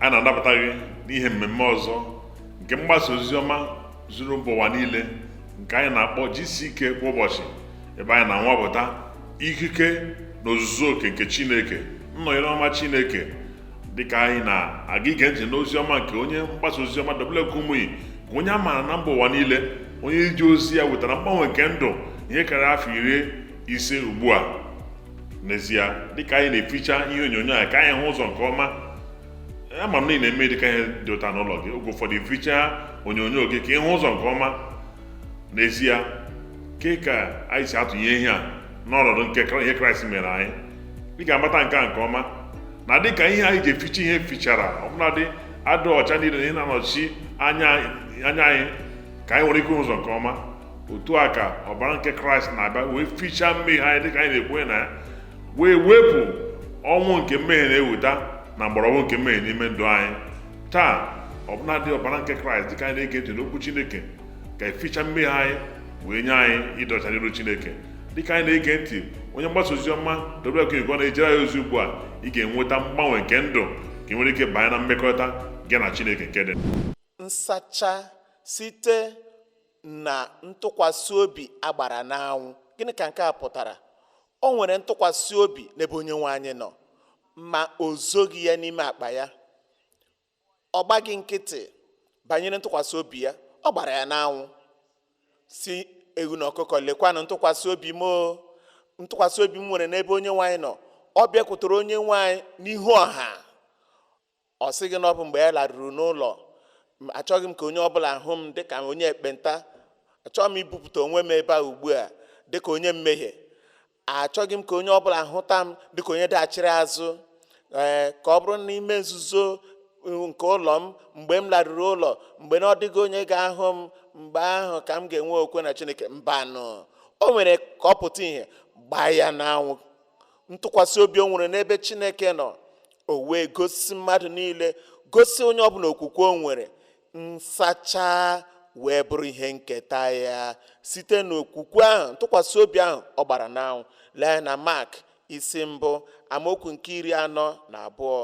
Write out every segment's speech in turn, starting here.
a na-anabata gị n'ihe mmemme ọzọ nke mgbasa ozi ọma zuru mba ụwa niile nke anyị na-akpọ GCK kwa ụbọchị ebe anyị na-anwapụta ikike na ozuzu oke nke Chineke nnọnyere ọma Chineke dịka anyị na-aga ige ntị n'ozi ọma nke onye mgbasa ozi ọma W.F. Kumuyi bụ onye a maara na mba ụwa niile onye e ji ozi ya wetara mgbanwe nke ndụ ihe karịa afọ iri ise ugbu a n'ezie dịka anyị na-eficha ihe onyonyo a ka anyị hụ ụzọ nke ọma ama m na ị na-eme dịka ihe dị otu a n'ụlọ gị oge ụfọdụ ificha onyonyo gị ka ị hụ ụzọ nke ọma n'ezie kee ka anyị si atụnye ihe a n'ọnọdụ nke ihe kraịst mere anyị ị ga-amata nke a nke ọma na dị ka ihe anyị ji eficha ihe fichara ọbụladị adịghị ọcha niile na ihe na-anọchi anya anyị ka anyị nwere ike hụ ụzọ nke ọma otu a ka ọbara nke kraịst na-abịa wee fichaa mmehie anyị dịka anyị na-ekwe na ya wee wepụ ọnwụ nke mmehie na-eweta na mgbọrọgwụ nke mmehie n'ime ndụ anyị taa ọbụladị ọbara nke kraịst dịka anyị na-ege ntị n'okwu chineke ga-eficha mmehie anyị wee nye anyị ịdị ọcha n'iru Chineke dịka anyị na-ege ntị onye mgbasa ozi ọma W.F. Kumuyi na-ejere anyị ozi ugbu a ị ga-enweta mgbanwe nke ndụ ka ị nwere ike banye na mmekọrịta gị na Chineke nke dị nsacha site na ntụkwasị obi a gbara n'anwụ gịnị ka nke a pụtara o nwere ntụkwasị obi n'ebe onye nwe anyị nọ ma o zoghị ya n'ime akpa ya ọ gbaghị nkịtị banyere ntụkwasị obi ya ọ gbara ya n'anwụ sị ewu na ọkụkọ lekwanụ ntụkwasị obi m ntụkwasị obi m nwere n'ebe onye nwe anyị nọ ọ bịakwutere onye nwe anyị n'ihu ọha ọ sịghị na ọ bụ mgbe ya laruru n'ụlọ achọghị m ka onye ọbụla hụ m dịka onye ekpenta achọghị m ibupụta onwe m ebe a ugbu a dịka onye mmehie achọghị m ka onye ọ bụla hụta m dịka onye dachiri azụ ee ka ọ bụrụ n'ime nzuzo nke ụlọ m mgbe m laruru ụlọ mgbe na ọ dịghị onye ga-ahụ m mgbe ahụ ka m ga-enwe okwukwe na chineke mbanụ o mere ka ọ pụta ihe gbaa ya n'anwụ ntụkwasị obi o nwere n'ebe chineke nọ o wee gosi mmadụ niile gosi onye ọbụla okwukwe o nwere nsacha wee bụrụ ihe nketa ya site n'okwukwe ahụ ntụkwasị obi ahụ ọ gbara n'anwụ lee na mak isi mbụ amaokwu nke iri anọ na abụọ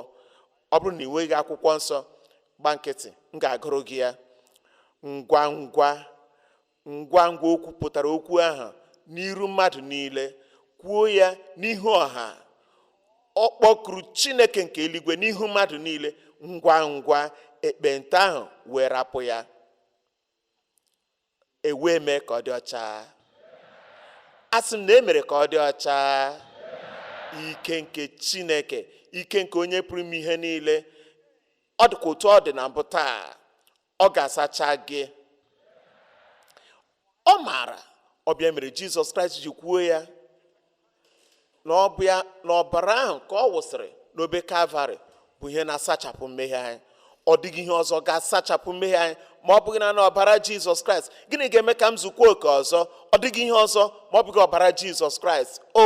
ọ bụrụ na ị nweghị akwụkwọ nsọ gba nkịtị m ga-agụrụ gị ya ngwa ngwa ngwa ngwa o kwupụtara okwu ahụ n'iru mmadụ niile kwuo ya n'ihu ọha ọ kpọkuru chineke nke eluigwe n'ihu mmadụ niile ngwa ngwa ekpenta ahụ wee rapụ ya ewee mee ka ọ dị ọcha a sị m na e mere ka ọ dị ọcha ike nke chineke ike nke onye pụrụ ime ihe niile ọ dịkwa otu ọ dị na mbụ taa ọ ga-asacha gị ọ maara ọ bụ ya mere jizọs kraịst ji kwuo ya na ọ bụ ya na ọbara ahụ ka ọ wụsịrị n'obe kalvarị bụ ihe na-asachapụ mmehie anyị ọ dịghị ihe ọzọ ga-asachapụ mmehie anyị ma ọ bụghị naanị ọbara jizọs kraịst gịnị ga-eme ka m zukwa oke ọzọ ọ dịghị ihe ọzọ ma ọ bụghị ọbara jizọs kraịst o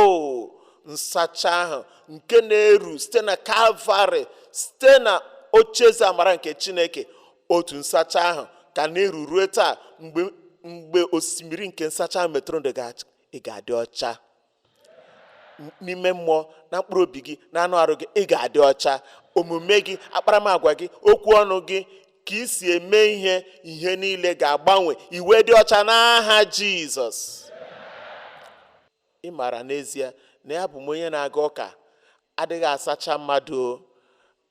nsacha ahụ nke na-eru site na kalvarị site na ocheeze amara nke chineke otu nsacha ahụ ka na-eru ruo taa mgbe osimiri nke nsacha ahụ metụrụ ndụ gị aka ị ga-adị ọcha n'ime mmụọ na mkpụrụ obi gị na anụ arụ gị ị ga-adị ọcha omume gị akparamagwa gị okwu ọnụ gị ka ị si eme ihe ihe niile ga-agbanwe ị wee dị ọcha n'aha jizọs Ị maara n'ezie na abụ m onye na-aga ụka adịghị asacha mmadụ o.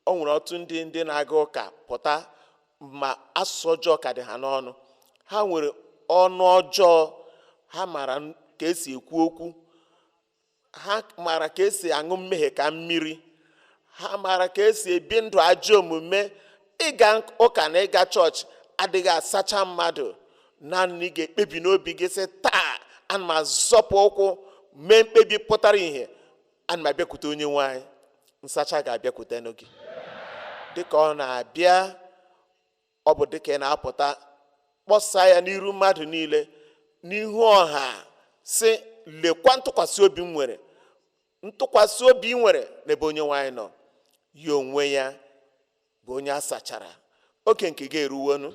O nwere ọtụtụ ndị ndị na-aga ụka pụta ma asụsụ ọjọọ ka dị ha n'ọnụ. Ha nwere ọnụ ọjọọ, ha maara n- ka esi ekwu okwu, ha maara ka esi aṅụ mmehie ka mmiri, ha maara ka esi ebi ndụ ajọ omume ịga ụka na ịga chọọchị adịghị asacha mmadụ naanị ị ga-ekpebi n'obi gị sị taa ana m azọpụ ụkwụ mee mkpebi pụtara ihe ana m abịakwute onye nwe anyị nsacha ga-abịakwute gị dịka ọ na-abịa ọ bụ dịka ị na-apụta kpọsa ya n'iru mmadụ niile n'ihu ọha sị lekwa ntụkwasị obi m nwere ntụkwasị obi ị nwere n'ebe onye nwe anyị nọ ya onwe ya bụ onye a sachara oke nke gị eruwonu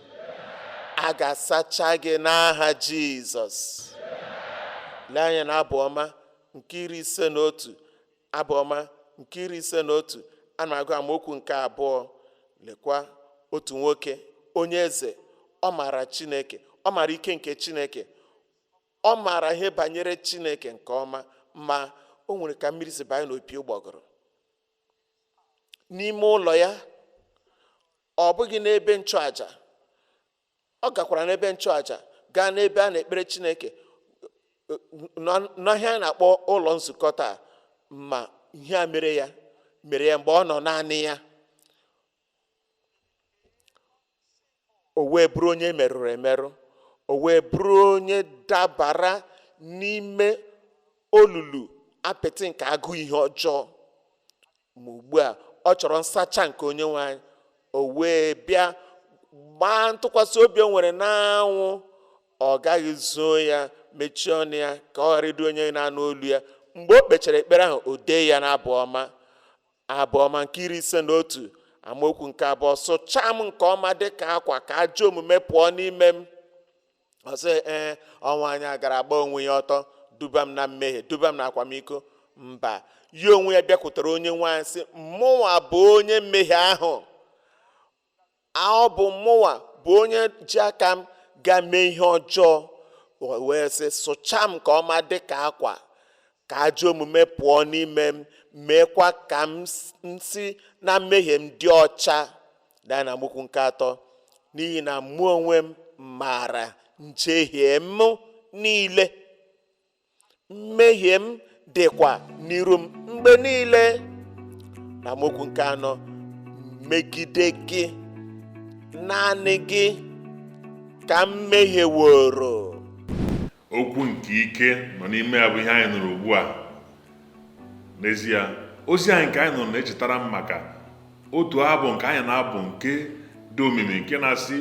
a ga-asacha gị n'aha jizọs lee anya na abụ ọma nke iri ise na otu abụ ọma nke iri ise na otu a na-agụ amaokwu nke abụọ lekwa otu nwoke onye eze ọ maara chineke ọ maara ike nke chineke ọ maara ihe banyere chineke nke ọma ma o nwere ka mmiri si banye n'opi ụgbọgụrụ n'ime ụlọ ya ọ bụghị n'ebe nchụaja ọ gakwara n'ebe nchụaja gaa n'ebe a na-ekpere chineke n'ihe anyị na-akpọ ụlọ nzukọ taa ma ihe a mere ya mere ya mgbe ọ nọ naanị ya o wee bụrụ onye merụrụ emerụ o wee bụrụ onye dabara n'ime olulu apịtị nke agụụ ihe ọjọọ ma ugbu a ọ chọrọ nsacha nke onye nwe anyị o wee bịa gbaa ntụkwasị obi o nwere n'anwụ ọ gaghị zoo ya mechie ọnụ ya ka ọ ghara ịdị onye na-anụ olu ya mgbe o kpechara ekpere ahụ o dee ya n'abụ ọma abụ ọma nke iri ise na otu amaokwu nke abụọ sụchaa m nke ọma dị ka akwa ka ajọ omume pụọ n'ime m ọ sị ee ọ nwaanyị a gara agba onwe ya ọtọ duba m na mmehie duba m na akwamiko mba ya onwe ya bịakwutere onye nwe anyị sị mụnwa bụ onye mmehie ahụ ọ bụ mụnwa bụ onye ji aka m gaa mee ihe ọjọọ wee sị sụchaa m nke ọma dị ka akwa ka ajọ omume pụọ n'ime m meekwa ka m si na mmehie m dị ọcha daa na amaokwu nke atọ n'ihi na mụ onwe m maara njehie m niile mmehie m dịkwa n'iru m mgbe niile na amaokwu nke anọ megide gị naanị gị ka m mehieworo okwu nke ike nọ n'ime ya bụ ihe anyị nụrụ ugbu a n'ezie ozi anyị nke anyị nụrụ na-echetara m maka otu abụ nke anyị na-abụ nke dị omimi nke na-asị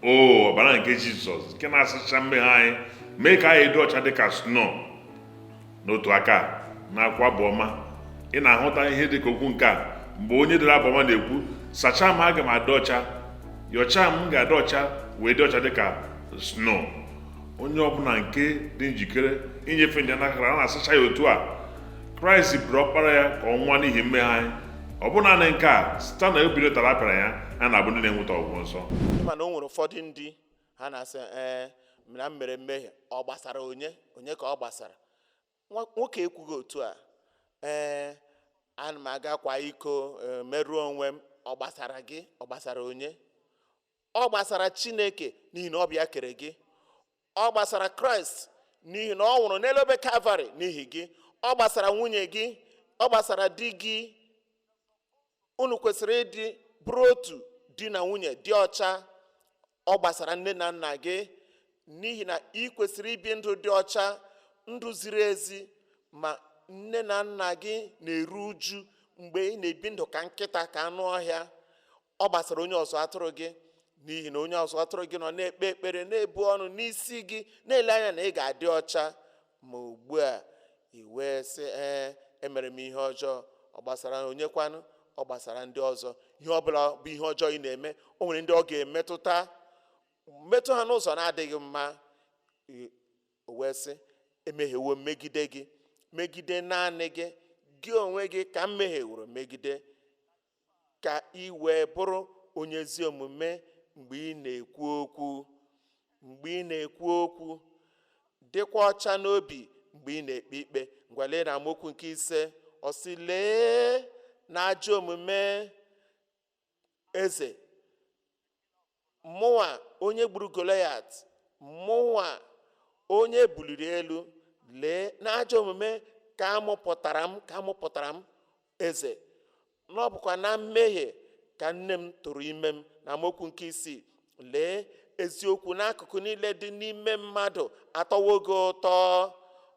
o ọbara nke jizọs nke na-asacha mmehie anyị mee ka anyị dị ọcha dị ka sno n'otu aka nakwa abụ ọma ị na-ahụta ihe dị ka okwu nke a mgbe onye dere abụ ọma na-ekwu sachaa m aga m adị ọcha yọchaa m ga-adị ọcha wee dị ọcha dị ka sno onye ọbụla nke dị njikere inyefe ndụ ya n'aka kraịst a na-asacha ya otu a kraịst bụrụ ọkpara ya ka ọ nwụọ n'ihi mmehie anyị ọ bụ naanị nke a site na ubiri ụtarị a pịara ya a na-abụ ndị na-enweta ọgwụgwọ nsọ mana o nwere ụfọdụ ndị ha na-asị ee na m mere mmehie ọ gbasara onye onye ka ọ gbasara Nwa- nwoke ekwughị otu a ee ana m aga akwa iko ee, merụọ onwe m ọ gbasara gị ọ gbasara onye ọ gbasara chineke n'ihi na ọ bụ ya kere gị ọ gbasara kraịst n'ihi na ọ nwụrụ n'elu obe kalvarị n'ihi gị ọ gbasara nwunye gị ọ gbasara di gị unu kwesịrị ịdị bụrụ otu di na nwunye dị ọcha ọ gbasara nne na nna gị n'ihi na ị kwesịrị ibi ndụ dị ọcha ndụ ziri ezi ma nne na nna gị na-eru uju mgbe ị na-ebi ndụ ka nkịta ka anụ ọhịa ọ gbasara onye ọzụ atụrụ gị n'ihi na onye ọzụ atụrụ gị nọ na-ekpe ekpere na-ebu ọnụ n'isi gị na-ele anya na ị ga-adị ọcha ma ugbu a i wee sị ee emere m ihe ọjọọ ọ gbasara onye kwanụ ọ gbasara ndị ọzọ ihe ọbụla bụ ihe ọjọọ ị na-eme o nwere ndị ọ ga-emetụta metụ ha n'ụzọ na-adịghị mma o wee sị emehiewo megide gị megide naanị gị gị onwe gị ka m mehieworo megide ka i wee bụrụ onye ezi omume mgbe ị na-ekwu okwu mgbe ị na-ekwu okwu dịkwa ọcha n'obi mgbe ị na-ekpe ikpe ngwa lee na amaokwu nke ise ọ sị lee n'ajọ omume eze Mụnwa onye gburu Golayat, mụnwa onye e buliri elu, lee, n'ajọ omume ka a mụpụtara m, ka a mụpụtara m eze, na ọ bụkwa na mmehie ka nne m tụrụ ime m. Na amaokwu nke isii, lee, eziokwu n'akụkụ niile dị n'ime mmadụ atọwo gị ụtọ,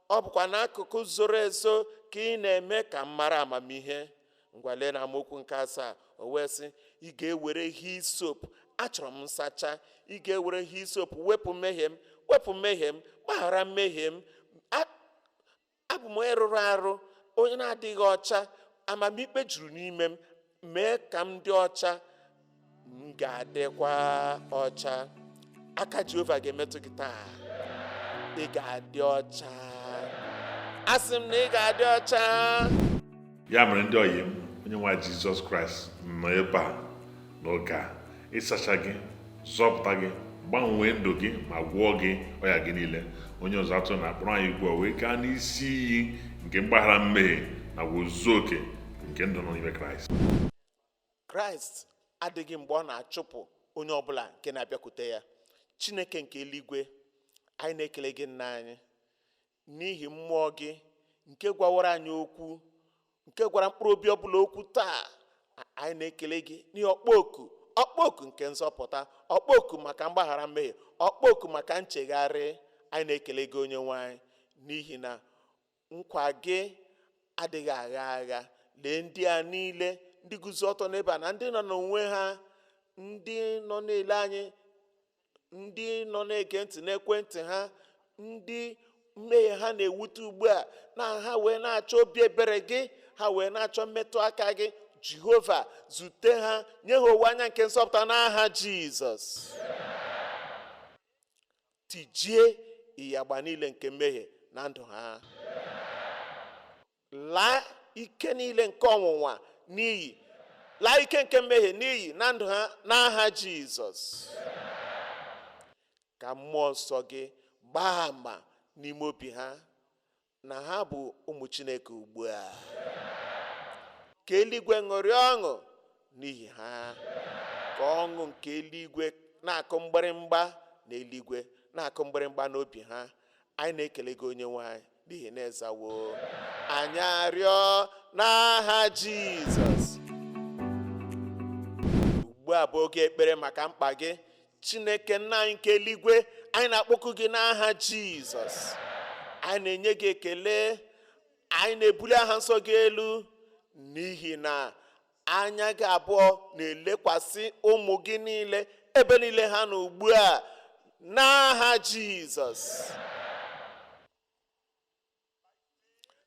ọ bụkwa n'akụkụ zoro ezo ka ị na-eme ka m mara amamihe. ngwa lee na amaokwu nke asaa o wee sị ị ga-ewere hisop achọrọ m nsacha ị ga-ewere hisop wepụ mmehie m wepụ mmehie m gbaghara mmehie m A- abụ m onye rụrụ arụ onye na-adịghị ọcha amamikpe juru n'ime m mee ka m dị ọcha m ga-adịkwa ọcha aka jehova ga-emetụ gị taa ị ga-adị ọcha asị m na ị ga-adị ọcha ya mere ndị ọyị m onye nwe jizọs kraịst nọ ebe a n'oge a ịsacha gị zọpụta gị gbanwee ndụ gị ma gwọọ gị ọya gị niile onye ọzụ atụrụ a kpọrọ anyị ugbu a wee gaa n'isi iyi nke mgbaghara mmehie na ozuzu oke nke ndụ nọ n'ime kraịst kraịst adịghị mgbe ọ na-achụpụ onye ọbụla nke na-abịakwute ya chineke nke eluigwe anyị na-ekele gị nna anyị n'ihi mmụọ gị nke gwawara anyị okwu nke gwara mkpụrụ obi ọbụla okwu taa anyị na-ekele gị n'ihi ọkpọ oku ọkpọ oku nke nzọpụta ọkpọ oku maka mgbaghara mmehie ọkpọ oku maka nchegharị anyị na-ekele gị onye nwe anyị n'ihi na Nkwa gị adịghị agha agha. Lee ndị a niile, ndị guzo ọtọ n'ebe a, na ndị nọ n'onwe ha, ndị nọ na-ele anyị, ndị nọ na-ege ntị n'ekwentị ha, ndị mmehie ha na-ewute ugbu a, na ha wee na-achọ obi ebere gị, ha wee na-achọ mmetụ aka gị. Jehova, zute ha, nye ha owe anya nke nzọpụta n'aha Jizọs. tijie ịyagba niile nke mmehie na ndụ ha laa ike niile nke ọnwụnwa n'iyi laa ike nke mmehie n'iyi na ndụ ha n'aha jizọs ka mmụọ nsọ gị gbaa ama n'ime obi ha na ha bụ ụmụ Chineke ugbu a ka eluigwe ṅụrịa ọṅụ n'ihi ha ka ọṅụ nke eluigwe na-akụ mgbịrịmgba n'eluigwe na-akụ mgbịrịmgba n'obi ha anyị na-ekele gị onye nwe anyị n'ihi na ị zawo anyị arịọ n'aha Jizọs ugbu a bụ oge ekpere maka mkpa gị chineke nna anyị nke eluigwe anyị na-akpọku gị n'aha jizọs anyị na-enye gị ekele anyị na-ebuli aha nsọ gị elu n'ihi na anya gị abụọ na-elekwasị ụmụ gị niile ebe niile ha nọ ugbu a n'aha jizọs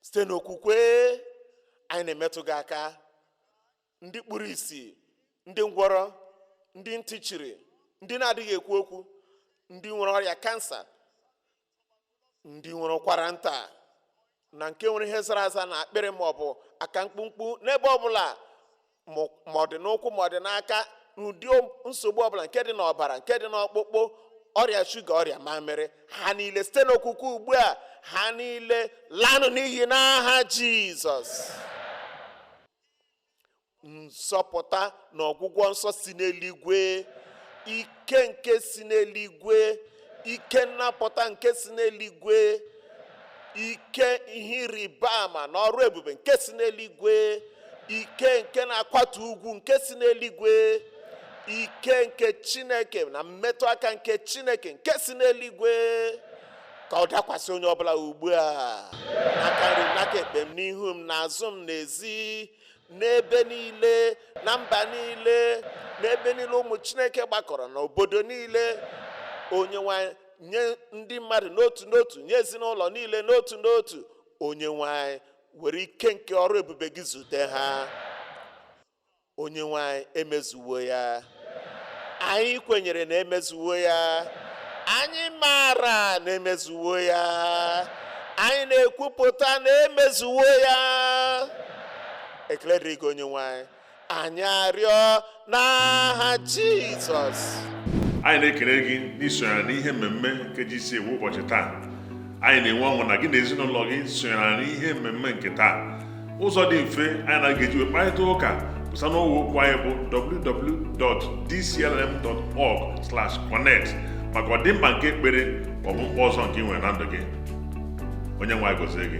site n'okwukwe anyị na-emetụ gị aka ndị kpuru isi ndị ngwọrọ ndị ntị chiri ndị na-adịghị ekwu okwu ndị nwere ọrịa kansa ndị nwere ụkwara nta na nke nwere ihe zara aza n'akpịrị ma ọ bụ aka mkpụmkpụ n'ebe ọ bụla ma ọ dị n'ụkwụ ma ọ dị n'aka n'ụdị nsogbu ọbụla nke dị n'ọbara nke dị n'ọkpụkpụ ọrịa shuga ọrịa mamịrị ha niile site n'okwukwe ugbu a ha niile lanụ n'iyi n'aha jizọs nzọpụta na ọgwụgwọ nsọ si n'eluigwe ike nke si n'eluigwe ike nnapụta nke si n'eluigwe ike ihe ịrịba ama na ọrụ ebube nke si n'eluigwe ike nke na-akwatu ugwu nke si n'eluigwe ike nke chineke na mmetụ aka nke chineke nke si n'eluigwe ka ọ dakwasị onye ọbụla ugbu a n'aka nri m n'aka ekpe m n'ihu m n'azụ m n'ezi n'ebe niile na mba niile n'ebe niile ụmụ chineke gbakọrọ n'obodo niile onye nwe anyị nye ndị mmadụ n'otu n'otu nye ezinụlọ niile n'otu n'otu onye nwe anyị were ike nke ọrụ ebube gị zute ha onye nwe anyị emezuwo ya anyị kwenyere na emezuwo ya anyị maara na emezuwo ya anyị na-ekwupụta na emezuwo ya ekele dịrị gị onye nwe anyị anyị arịọ n'aha jizọs anyị na-ekele gị n'isonyere n'ihe mmemme nke GCK kwa ụbọchị taa anyị na-enwe ọṅụ na gị na ezinụlọ gị sonyere n'ihe mmemme nke taa ụzọ dị mfe anyị na-eji wee kparịta ụka bụ site n'ọwa okwu anyị bụ www.dclm.org/connect maka ọdịmkpa nke ekpere ma ọ bụ mkpa ọzọ nke ị nwere na ndụ gị onye nwe anyị gọzie gị